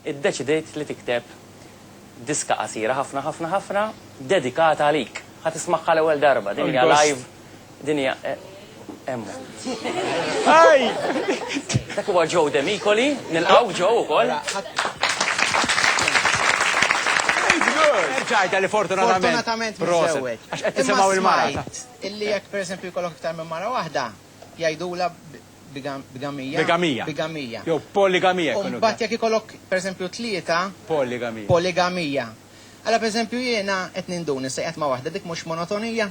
iddeċidiet li tikteb diska qasira ħafna ħafna ħafna dedikata għalik. Ħa tismagħha l-ewwel darba, din hija live, din hija hemm hu. Hi! Dak huwa Joe Demicoli, nilqgħu Joe ukoll. Ġajta li fortunatament. Fortunatament miżewweġ. Għax qed tisimgħu il-mara. Illi jekk pereżempju jkollok iktar minn mara waħda, jgħidula bigamija. Bigamija. Bigamija. Jew poligamija. U mbagħad jekk ikollok pereżempju tlieta. Poligamija. Poligamija. Alla pereżempju jiena qed nindun issa qed ma' waħda dik mhux monotonija.